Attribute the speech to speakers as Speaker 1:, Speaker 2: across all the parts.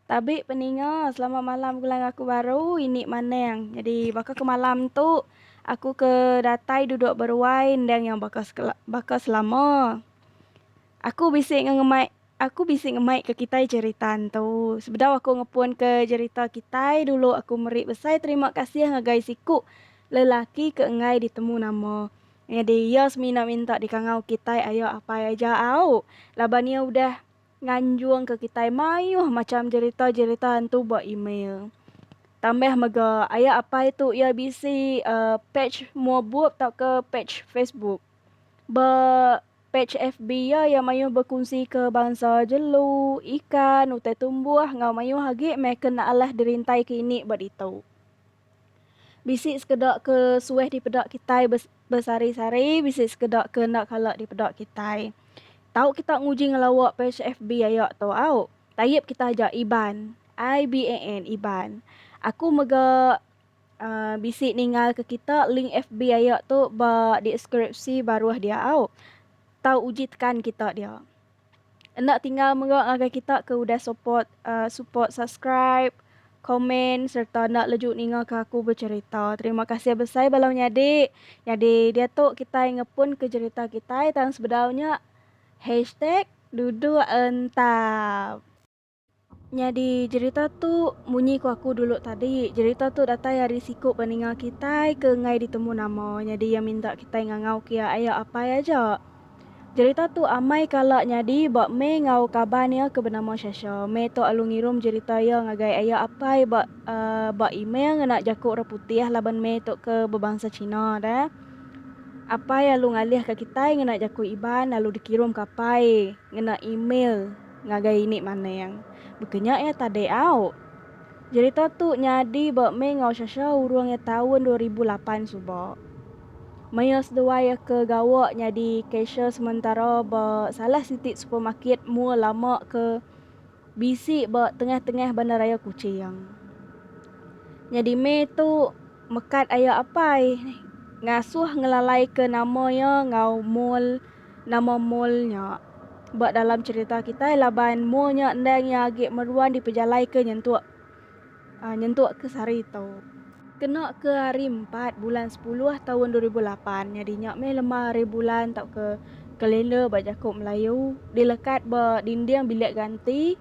Speaker 1: Tabi peninga selamat malam gelang aku baru ini maneng jadi baka ke malam tu aku ke datai duduk beruai endang iya baka baka selama aku bisi ngemai Aku bisi ngemaika kitai jerita ntu. Sebedau aku ngepunka jerita kitai dulu aku meri besai terima kasih ngagai siku lelaki ke enggai ditemu nama. Nyadi iya semina minta dikangau kitai ayo apai aja au laban iya udah nganjungka kitai mayuh macham jerita-jerita ntu ba email. Tambah mega ayo apai tu iya bisi page mua bup tauka page Facebook ba. Pej FB iya iya mayuh bekunsika bansa jelu, ikan, utai tumbuh enggau mayuh agi meh ke enda alah dirintaika ini ba ditu. Bisi sekeda ke suah dipeda kitai besari-sari, bisi sekeda ke enda kala dipeda kitai. Tau kita nguji ngelawa pej FB aya tu au. Tayip kita aja Iban, IBAN, Iban. Aku mega Bisi ninggalka kita link FB aya tu ba deskripsi baruh dia au. Tau uji tekan kita dia. Enda tinggal mega ngagai kita ke udah support uh, support subscribe, komen serta enda leju ningaka aku becerita. Terima kasih besai bala menyadi. Nyadi diatu kitai ngepunka cerita kitai tang sebedau nya hashtag duduk entap. Nyadi jerita tu munyi ku aku dulu tadi, jerita tu datai ari siku peninga kitai ke enggai ditemu nama nyadi iya minta kitai ngangau ke iya aya apai aja. Jerita tu amai kala nyadi ba meh enggau kaban iya ke benama Shasha. Meh tu alu ngirum jerita iya ngagai aya apai ba ba email ngena jaku orang putih laban meh tu ke bebansa China deh. Apai alu ngalihka kitai ngena jaku Iban lalu dikirum ke apai ngena email. Ngagai ini maning. Baka nya iya tadi au. Jerita tu nyadi ba mih enggau Shasha urung iya taun dua ribu lapan suba. Mih iya seduai iya ke gawa nyadi cashier sementara ba salah siti supermarket mua lama ke bisi ba tengah-tengah bandaraya Kuching. Nyadi mih tu mekat aya apai ngasuh ngelalaika nama iya enggau mall. Nama mall nya? Ba dalam cherita kitai laban mall nya endang iya agi meruan dipejalaika nyentuk uh, nyentuk ke sehari tu. Kena ke hari empat bulan sepuluh tahun dua ribu lapan nyadi nya meh lemah hari bulan tauka kalender ba jaku Melayu dilekat ba dinding bilik ganti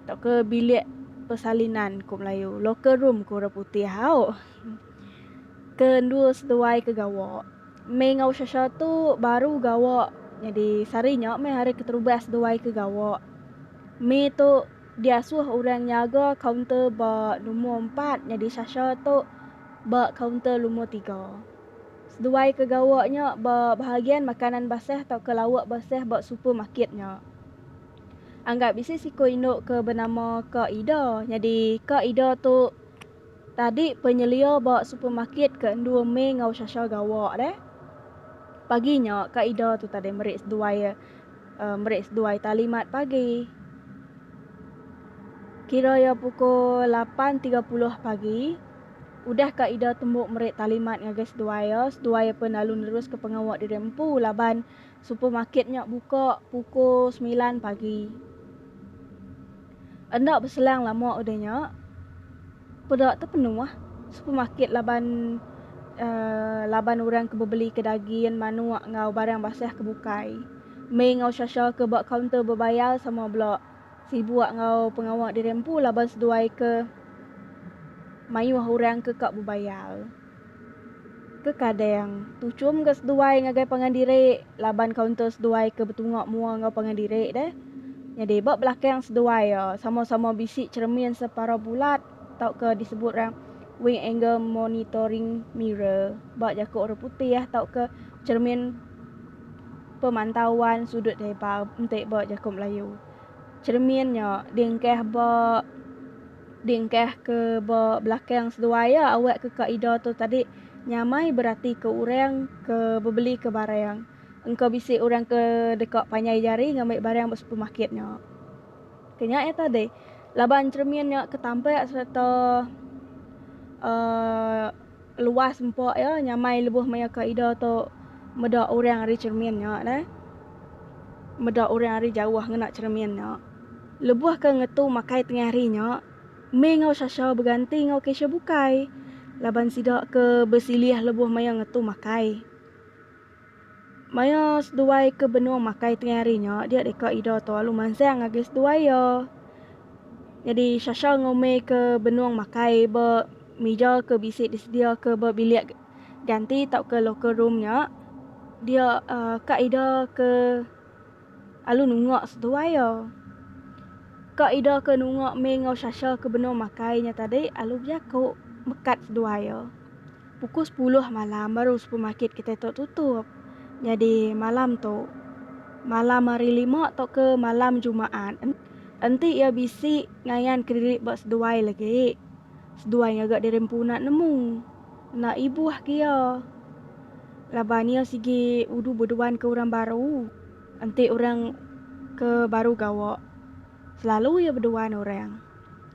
Speaker 1: tauka bilik persalinan ku Melayu, locker room ku orang putih. Au. Ke endur seduai ke gawa. Mei enggau Shasha tu baru gawa nyadi sehari nya meh hari keterubah seduai ke gawa. Mei tu diasuh orang nyaga kaunter ba lumur empat nyadi Shasha tu ba kaunter lumur tiga. Seduai ke gawa nya ba bahagian makanan basah tauka lauk basah ba supermarket nya. Anggar bisi siku indu ke benama Ka Ida nyadi Ka Ida tu. Tadi penyelia ba supermarket ke endur May enggau Shasha gawa deh. Pagi nya ka ida tu tadi meri seduai meri seduai tali mat pagi. Kira ia pukul lapan tiga puluh pagi. Udah ka ida tembu meri tali mat ngagai seduai ia, seduai ia pun lalu neruska pengawa diri empu laban. supermarket nya buka pukul semilan pagi. Enda beselang lama udah nya, peda tepenuh supermarket laban uhh laban orang ke bebelika daging, manuk enggau barang basah ke bukai. Mei enggau Shasha ke ba kaunter bebayar sama bela sibuk enggau pengawa diri empu laban seduai ke mayuh orang ke ka bebayar. Kekadang, tuchum ga seduai ngagai pangan diri laban kaunter seduai ke betunga mua enggau pangan diri deh. Nyadi ba belakang seduai iya sama-sama bisi cheremin separau bulat tauka disebut orang Wing Angle Monitoring Mirror ba jaku orang putih tauka cheremin pemantauan sudut lebar enti ba jaku Melayu. Cheremin nya diengkah ba. Dingkah ke ba belakang seduai iya awak ke ka ida tu tadi nyamai beratika orang ke bebelika barang. Engka bisi orang ke deka panjai jari ngambi barang ba supermarket nya. Ke nya iya tadi, laban cheremin nya ke tampak sereta uhh Luas empa iya nyamai lebuh maya ka ida tu meda orang ari cheremin nya deh. Meda orang ari jauh ngena cheremin nya. Lebuh ke ngetu makai tengah hari nya, Mei enggau Sasha beganti enggau Keisha bukai laban sida ke besilih lebuh maya ngetu makai. Maya seduai ke benung makai tengah hari nya, dia deka Ida tu alu mansang ngagai seduai iya. Nyadi Shasha ngumika benung makai ba mija ke bisi disediaka ba bilik ganti tauka locker room nya dia ka Ida ke. Lalu nunga seduai iya. Ka ida ke nunga Mei enggau Shasha ke benung makai nya tadi lalu bejaku mekat seduai iya. Pukul sepuluh malam baru supermarket kitai tu tutup. Nyadi malam tu, malam hari lima tauka malam jumaat, enti iya bisi ngayan ke diri ba seduai lagi, seduai ngaga diri empu enda nemu. Enda ibuh ke iya. Laban iya sigi udu beduan ke orang baru, enti orang ke baru gawa, selalu iya beduan orang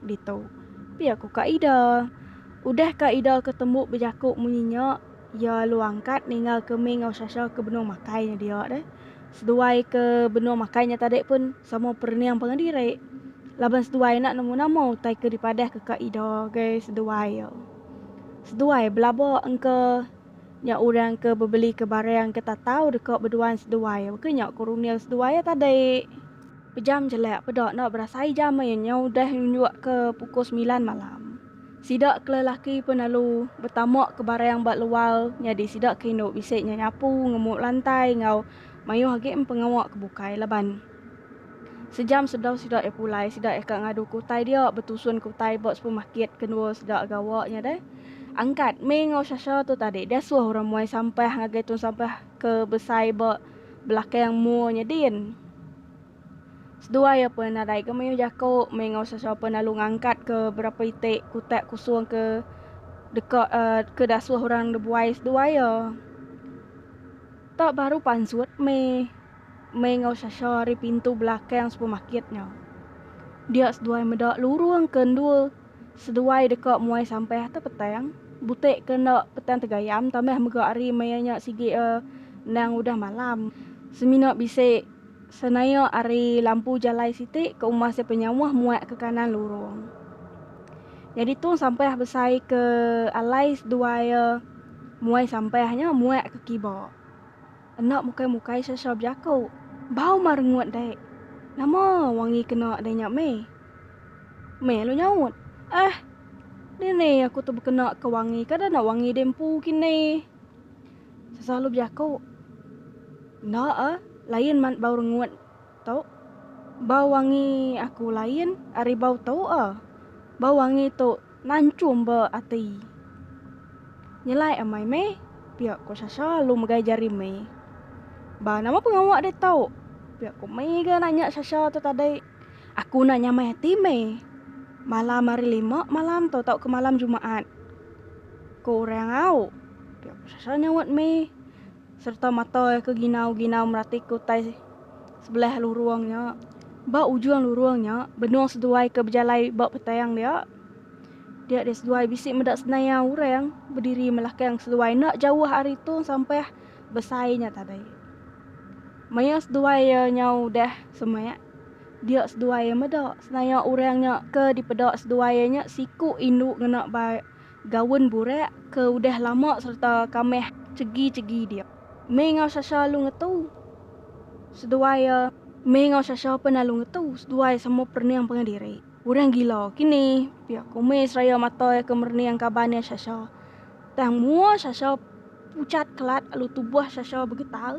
Speaker 1: ditu. Pia ku ka ida. Udah ka ida ke tembu bejaku munyi nya, iya alu angkat ninga ke mih enggau Sasha ke benung makai nya dia deh. Seduai ke benung makai nya tadi pun sama perening pangan diri. Laban seduai enda nemu nama utai ke dipadah ke ka ida ngagai seduai iya. Seduai belaba engka. Nya orang ke bebelika barang ke tatau deka beduan seduai, baka nya ku Runil seduai iya tadi. Pejam jelak peda enda berasai jam iya nyau udah nunjukka pukul semilan malam. Sida ke lelaki pun lalu betamakka barang ba luar nyadi sida ke indu bisi nya nyapu, ngemuk lantai enggau mayuh agi empengawa ke bukai laban. Sejam sebedau sida iya pulai, sida iya ka ngadu ke utai dia betusun ke utai ba supermarket ke endur sida gawa nya deh. Angkat, Mei enggau Shasha tu tadi diasuh orang muai sampah ngagai tong sampah ke besai ba belakang mall nya din. Seduai iya pun nadai ke mayuh jaku, Mei enggau Shasha pun lalu ngangkat ke berapa iti kutak kusung ke deka uhh ke diasuh orang nebuai seduai iya. Tak baru pansut Mei. Mei enggau Sasha ari pintu belakang supermarket nya. Dia seduai meda lurung ke endur seduai deka muai sampah atas petang. Butik ke enda petang tegayam tambah mega hari maya nya sigi iya endang udah malam. Semina bisi senaik ari lampu jalai siti ke umbah sia penyauh muak ke kanan lurung. Nyadi tung sampah besai ke alai seduai iya muai sampah nya muak ke kiba. Enda mukai-mukai sasau bejaku. Bau marengut dek. Nama wangi kena deh nya meh? Meh lu nyaut. Eh! Dini aku tu bekena ke wangi kada enda wangi deh empu kini. Sasau lu bejaku. Enda ah, lain man bau rengut Tau. Bau wangi aku lain ari bau tu a. Bau wangi tu nanchum ba ati. Nyelai amai meh, pia ko Sasha lalu megai jari meh. Ba nama pengawa deh tau, pia ko meh ga nanya Sasha tu tadi. Aku enda nyamai ati meh. Malam hari lima malam tu tauka malam jumaat. Ko orang au, pia ko Sasha nyaut meh. sereta matoi ke ginau-ginau meratika utai sebelah lurung nya. Ba ujung lurung nya, benung seduai ke bejalai ba petang dia. Dia deh seduai bisi meda senaya orang bediri melakang seduai enda jauh ari tu sampah besai nya tadi. Maya seduai iya nyau udah semak, dia seduai iya meda senaya orang nya ke dipeda seduai iya nya siku indu ngena ba Gaun burak ke udah lama sereta kamah chegi-chegi dia. Mei enggau Sasha alu ngetu seduai iya. Mei enggau Sasha pen alu ngetu seduai sama perening pengah diri. Orang gila kini, pia ku Mei seraya mata iya ke merening kaban iya Sasha. Tang mua Sasha puchat kelat alu tubuh Sasha begetar.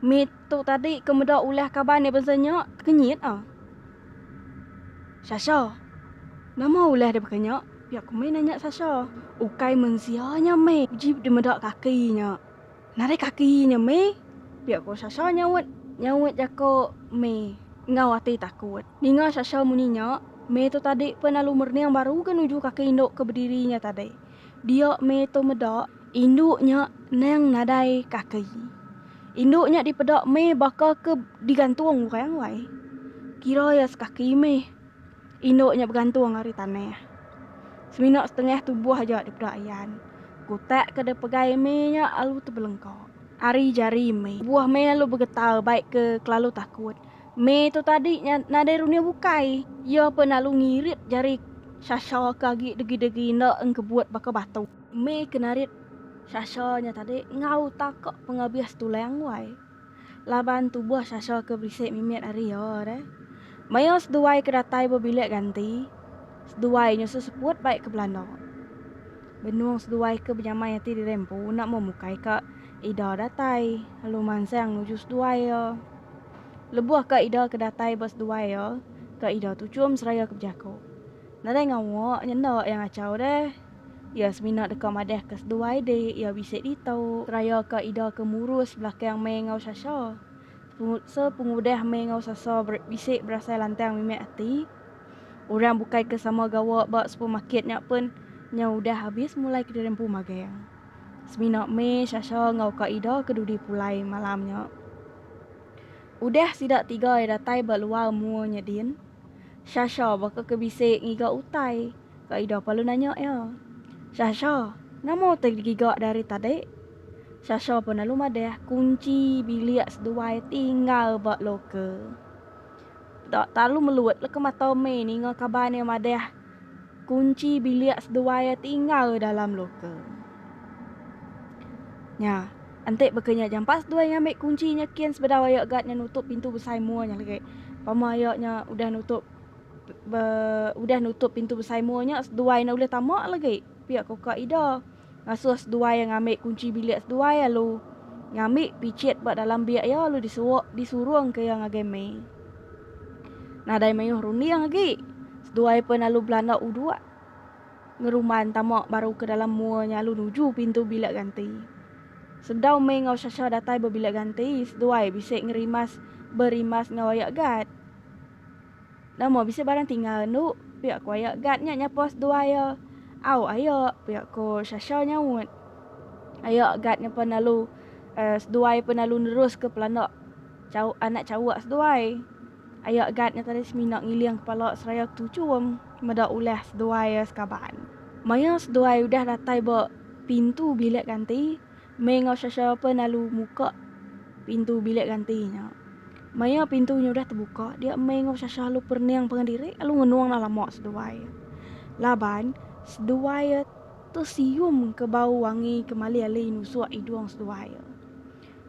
Speaker 1: Mei tu tadi ke meda ulah kaban iya bansa nya, tekenyit ah. Sasha, Nama ulah deka nya? Pia ku meh nanya Sasha. Ukai mensia nya meh uji deka meda kaki nya. Narai kaki nya meh, pia ku Sasha nyaut nyaut jaku meh enggau ati takut. Ninga Sasha munyi nya, meh tu tadi pen lalu merning baru ga nuju kaki indu ke bediri nya tadi. Dia meh tu meda indu nya endang nadai kaki. Indu nya dipeda meh baka ke digantung orang wai. Kira iya sekaki meh. Indu nya begantung ari tanah. Semina setengah tubuh aja dipeda Ian. Kutak ke deh pegai meh nya alu tebelengka. Ari jari meh. Buah meh alu begetar baik ke kelalu takut. Me tu tadi nya nadai runing bukai, iya pun lalu ngirit jari Sasha ke agi degi-degi enda engkebut baka batu. Me ke narit Sasha nya tadi enggau taka pengabis tulang wai. Laban tubuh Sasha ke bisi mimit ari iya deh. Maya seduai ke datai ba bilik ganti, seduai nya seseput bai ke belanda. Benung seduai ke benyamai ati diri empu enda memukai ka ida datai lalu mansang nuju seduai iya. Lebuh ka ida ke datai ba seduai iya, ka ida tu chum seraya ke bejaku, Nadai ngawa nya enda iya ngachau deh. Iya semina deka madahka seduai di iya bisi ditu. Seraya ka ida ke murus belakang meh enggau Sasha. Sepengudah meh enggau Sasha bisi berasai lantang mimit ati, orang bukai ke sama gawa ba supermarket nya pun nyau udah abis mulai ke dirempu magang. Semina meh Sasha enggau ka ida ke dudi pulai malam nya. Udah sida tiga iya datai ba luar mua nya din, Shasha baka ke bisi ngiga utai ka ida palu nanya iya, Shasha, nama utai digiga dari tadi? Shasha pun lalu madah kunchi bilik seduai tinggal ba loker. Dak talu melut leka mata meh ninga kaban iya madah. Kunchi bilik seduai iya tinggal dalam loka. Nya, enti baka nya jampat seduai ngambi kunchi nya kin sebedau ayo gat nya nutup pintu besai mua nya lagi. Pama ayo nya udah nutup udah nutup pintu besai mua nya seduai enda ulih tama lagi pia ka uka ida. Ngasuh seduai ngambi kunchi bilik seduai lalu ngambi pichit ba dalam biak iya lalu disuruk disurungka iya ngagai mei. Nadai mayuh runding agi, seduai pen lalu belanda uduk ngeruman tama baru ke dalam mua nya lalu nuju pintu bilik ganti. Sebedau Mei enggau Shasha datai ba bilik ganti, seduai bisi ngerimas berimas enggau ayak gat. Nama bisi barang tinggal endo, pia ku aya guard nya nyapu seduai iya. Au aya, pia ku Shasha nyaut. Aya guard nya pan lalu seduai pan lalu neruska pelanda chauk anak chauk seduai. Aya guard nya tadi semina ngiling kepala seraya ketuchum meda ulah seduai iya sekaban. Maya seduai udah datai ba pintu bilik ganti. Mei enggau siapa-siapa lalu muka pintu bilik ganti nya. Maya pintu nya udah tebuka, dia mei enggau Sasha lalu perening pangan diri lalu ngenung enda lama seduai. Laban, seduai tesium ke bau wangi ke malih-alih nusuk idung seduai.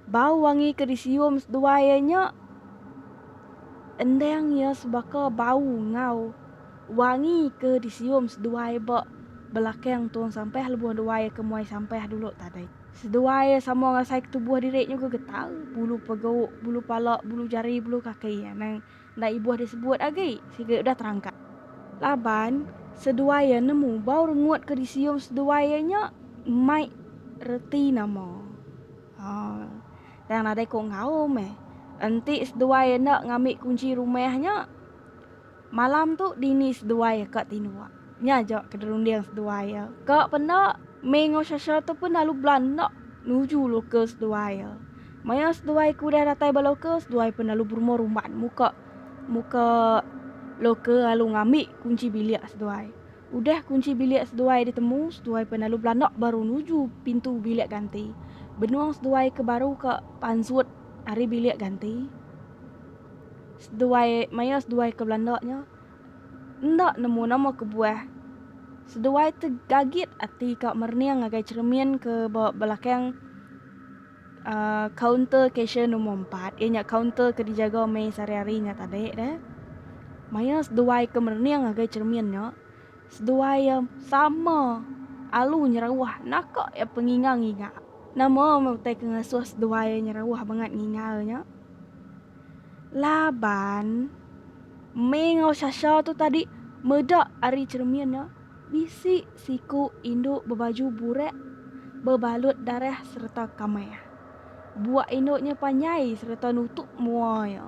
Speaker 1: Bau wangi ke disium seduai nya endang iya sebaka bau enggau. Wangi ke disium seduai ba belakang Tong Sampah lebuh dua iya ke muai sampah dulu tadi. Seduai iya sama ngasaika tubuh diri nyuga getara, bulu pegauk, bulu pala, bulu jari, bulu kaki anang enda ibuh disebut agi sigi udah terangkat. Laban, seduai iya nemu bau rengut ke disium seduai iya nya mai reti nama. Haa, tang nadai ku ngaum meh. Enti seduai iya enda ngambi kunchi rumah nya. Malam tu dini seduai iya ka tinduk. Nya aja ke dirunding seduai iya. Ka penda, Mei enggau Sasha tu pun lalu belanak nuju local seduai iya. Maya seduai ke udah datai ba local, seduai pun lalu berumah rumban muka muka local lalu ngambi kunchi bilik seduai. Udah kunchi bilik seduai ditemu, seduai pun lalu belanak baru nuju pintu bilik ganti. Benung seduai ke baru ka pansut ari bilik ganti. Seduai maya seduai ke belanda nya enda nemu nama kebuah. Seduai tu gagit ati ka merening ngagai cheremin ke ba belakang uhh kaunter cashier nombor empat iya nya kaunter ke dijaga meh sehari-hari nya tadi deh. Maya seduai ke merening ngagai cheremin nya. Seduai iya sama alu nyerauh naka iya penginga nginga. Nama meh utai ke ngasuh seduai iya nyerauh bangat nginga nya? Laban Mei enggau Sasha tu tadi meda ari cheremin iya bisi siku indu bebaju burak bebalut darah sereta kamah. Buak indu nya panjai sereta nutup mua iya.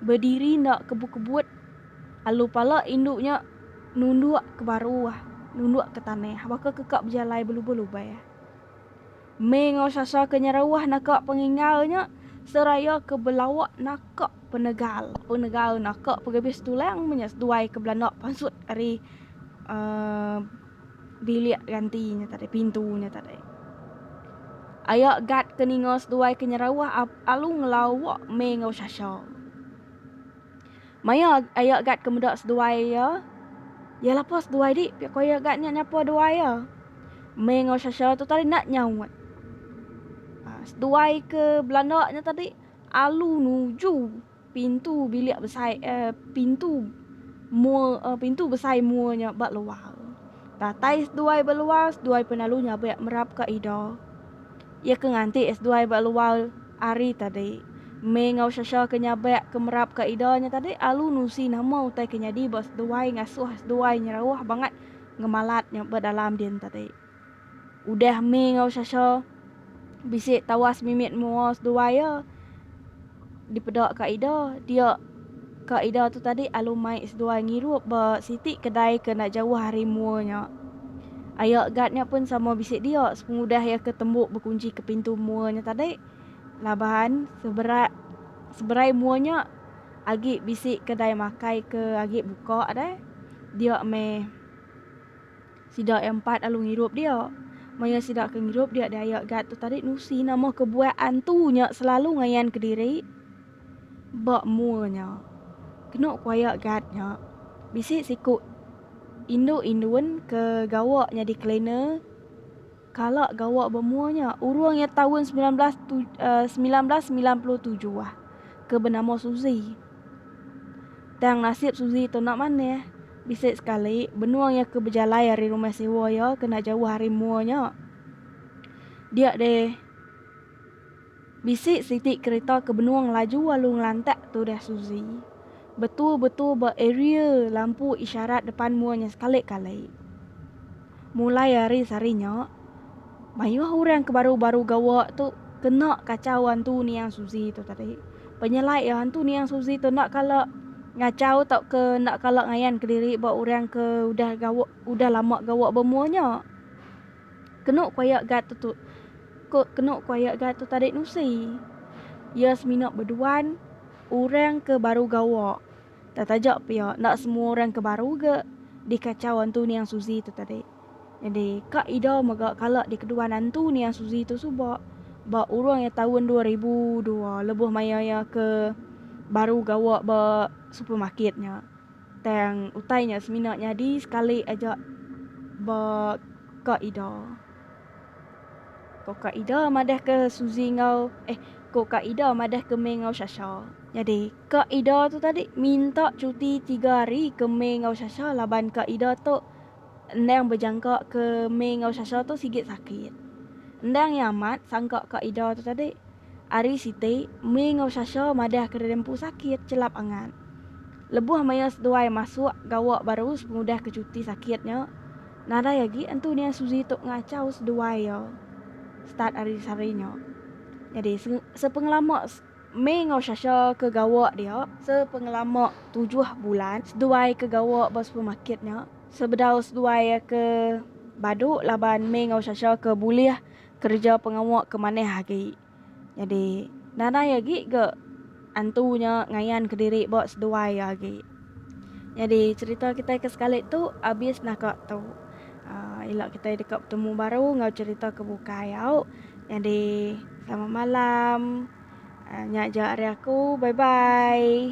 Speaker 1: Bediri enda kebut-kebut. Lalu pala indu nya nunduk ke baru, nunduk ke tanah baka ke ka bejalai belubah-lubah. Mei enggau Sasa ke nyerauh naka pengingau nya seraya ke belawa naka penegal. Penegal naka pegebis tulang meh nya seduai ke belanda pansut ari uhh bilik ganti nya tadi, pintu nya tadi. Aya guard ke ninga seduai ke nyerauh lalu ngelawa mei enggau Sasa. Maya ayak gat ke meda seduai iya, iya lapor seduai dik pia ko ayak gat nya nyapa duai iya. Mei enggau Shasha tu tadi enda nyaut. Aa seduai ke belanda nya tadi alu nuju pintu bilik besai eh pintu mua eh pintu besai mua nya ba luar. Datai seduai ba luar seduai pun alu nyabek merap ka ida. Iya ke nganti sduai ba luar ari tadi. May enggau Shasha ke nyabak ke merap ka ida nya tadi alu nusi nama utai ke nyadi ba sduai ngasuh sduai nyerauh bangat ngemalat nya ba dalam din tadi. Udah May enggau Shasha bisi tawas mimit mua sduai iya, Dipeda ka ida, dia ka ida tu tadi alu mai seduai ngirup ba siti kedai ke enda jauh ari mua nya. Aya guard nya pun sama bisi dia sepengudah iya ke tembu bekunji ke pintu mua nya tadi. Laban seberat seberai mua nya agi bisi kedai makai ke agi buka deh. Dia meh. Sida iya empat alu ngirup dia. Maya sida ke ngirup dia diaya gat tu tadi nusi nama kebuah antu nya selalu ngayan kediri ba mua nya. Kenu ku aya gat nya bisi siku indu indun ke gawa nyadi cleaner. Kala gawa bemua nya, urung iya taun semilan belas semilan belas semilan puluh tujuh ke benama Suzi. Tang nasib Suzi tu enda manah. Bisi sekali, benung iya ke bejalai ari rumah sewa iya ke enda jauh ari mua nya. Dia deh. Bisi siti kerita ke benung ngelaju lalu ngelantak, tudah Suzy. Betul-betul ba area lampu isyarat depan mua nya sekali-kali. Mulai ari sehari nya, mayuh orang ke baru-baru gawa tu kena kachau hantu niang Suzy tu tadi. Penyelai iya, hantu niang Suzy tu enda kala ngachau tauka enda kala ngayanka diri ba orang ke udah gawa udah lama gawa ba mua nya. Kenu kuayak ga tu tu ko kenu kuayak ga tu tadi nusi. Iya semina beduan orang ke baru gawa. Tang taja pia enda semua orang ke baru ga dikachau antu niang Suzi tu tadi. Jadi ka ida mega kala dikeduan antu niang Suzi tu suba ba urung iya taun dua ribu dua lebuh maya iya ke baru gawa ba supermarket nya. Tang utai nya semina nyadi sekali aja ba ka Ida. Ko ka Ida madah ke Suzy enggau eh ko ka Ida madah ke Mei enggau Sasha. Nyadi ka Ida tu tadi minta cuti tiga hari ke Mei enggau Sasha laban ka Ida tu endang bejangka ke Mei enggau Sasha tu sigi sakit. Endang iya amat sangka ka Ida tu tadi. Hari siti Mei enggau Sasha madah ke deda empu sakit chelap angat. Lebuh maya seduai masuk gawa baru sepengudah ke cuti sakit nya, nadai agi Entu Nia Suzy tu ngachau seduai iya start ari sehari nya. Nyadi, sepengelama May enggau Sasha ke gawa dia, sepengelama tujuh bulan seduai ke gawa ba supermarket nya, sebedau seduai ke badu laban May enggau Sasha ke bulih kereja pengawa ke manah agi. Nyadi nadai agi ga antu nya ngayan ke diri ba seduai iya agi. Nyadi cerita kitai ke sekali tu abis naka tu. Aaa ila kitai deka betemu baru enggau cerita ke bukai au. Nyadi selamat malam. Aaa nya aja ari aku. Bye bye.